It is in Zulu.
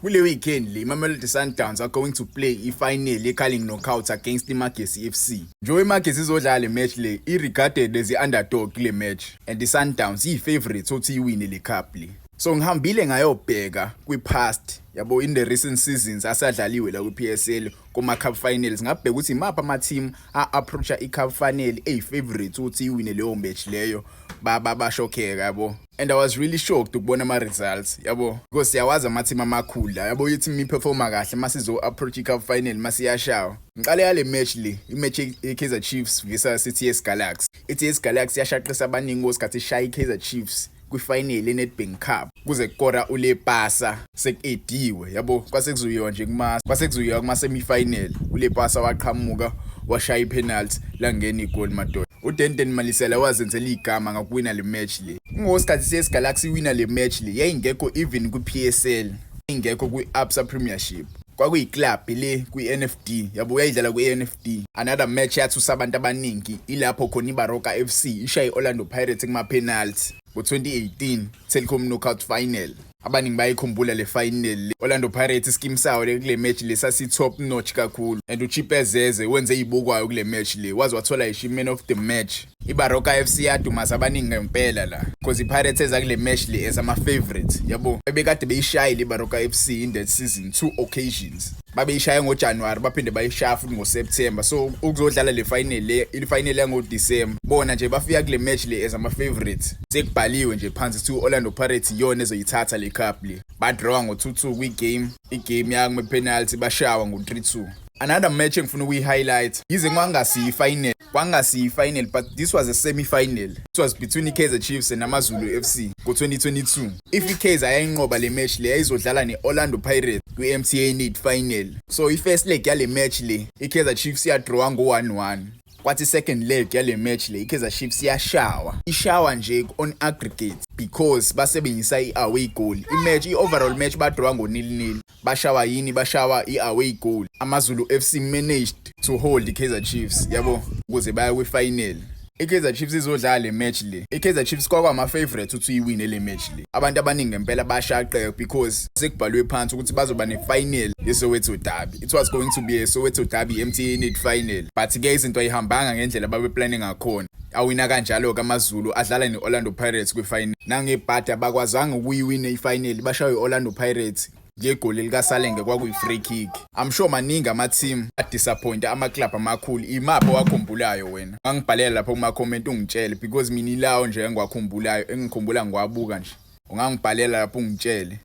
Kule weekend le iMamelodi Sundowns are going to play i-final ye-Carling Knockout against iMagesi FC. Njengoba iMagesi izodlala le match le, i-regarded as i-underdog kule match and i-Sundowns iyi-favourite ukuthi iyiwine le cup le. So ngihambile ngayobheka kwi-past yabo in the recent seasons asadlaliwe la kwi-PSL kuma cup finals ngabheka ukuthi imaphi ama team a approacha i cup final eyi favorite ukuthi iwine leyo match leyo ba ba bashokheka yabo and i was really shocked ukubona ama-results yabo because siyawazi amathim amakhulu la yabo yithi miperforma kahle uma sizo-approach i-cup final uma siyashawa ngiqale yale match le imatch ye-kaizer chiefs visa cts galaxy i-ts galaxy yashaqisa abaningi kosikhathi ishaya i-kaizer chiefs kwifinal enedbank cup kuze kukora ulepasa sekuediwe yabo kwase kuzuyiwa nje kuma kwase kuzuyiwa kuma-semifinal ulepasa waqhamuka washaya ipenalty langena igoli madoda UDenton Malisela wazenzela igama ngakuwina le match le. Kungowesikhathi siye Galaxy iwina le match le yayingekho even kwi-PSL, ingekho kwi-Absa Premiership. Kwakuyiclub le kwi-NFD, yabo uyayidlala kwi-NFD. Another match yathusa abantu abaningi ilapho khona iBaroka FC ishaye i-Orlando Pirates kuma-penalty ngo-2018 Telkom Knockout Final. abaningi bayikhumbula le final le Orlando Pirates iskim sawo le kule match le sasi top notch kakhulu and uChipezeze wenze izibukwayo kule match le waze wathola ishi man of the match iBaroka FC yadumaza abaningi ngempela la because iPirates eza kule match le as ama favorites yabo ebekade beyishayile iBaroka FC in that season two occasions babeyishaya ngojanuwari baphinde bayishaya futhi ngoseptemba so ukuzodlala le final le ifinal yangodisemba bona nje bafika kule match le as ama-favorites sekubhaliwe nje phansi kuthiwa i-orlando pirates iyona ezoyithatha le cup le badrawa ngo-2-2 kwigame igame yakume-penalty bashawa ngo-3-2 another match engifuna ukuyi-highlight yize kwangasiyi ifinal kwangasiyi final but this was a semi final it was between iKaizer Chiefs and AmaZulu FC ngo-2022 if iKaizer ayayinqoba le match le yayizodlala ne-Orlando Pirates kwi-MTN 8 final so i-first leg yale match le iKaizer Chiefs yadrawa ngo-1-1 kwathi second leg yale match le iKaizer Chiefs yashawa ishawa nje on aggregate because basebenzisa i-away goal i-match i-overall match badrawa ngo-nil-nil Bashawa yini bashawa i-away goal. AmaZulu FC managed to hold iKaizer Chiefs yabo ukuze baya kwifinal. IKaizer Chiefs izodlala le match le. IKaizer Chiefs kwakwama favorite ukuthi uyiwine le match le. Abantu abaningi ngempela bashaqeka because sekubhalwe phansi ukuthi bazoba nefinal yeSoweto Derby. It was going to be a Soweto Derby MTN final. But ke izinto ayihambanga ngendlela babe planning ngakhona. Awina kanjalo-ke amaZulu adlala ne-Orlando Pirates kwifinal. Nangebhadi abakwazanga ukuyiwina ifinal, bashaywe i-Orlando Pirates ngegoli likaSalenge kwakuyi-free kick. I'm sure maningi ama-team adisappointa ama-club amakhulu. Imaphi owakhumbulayo wena? Ungangibhalela lapha kuma-comment ungitshele because mina ilawo nje engiwakhumbulayo, engikhumbula ngiwabuka nje. Ungangibhalela lapha ungitshele.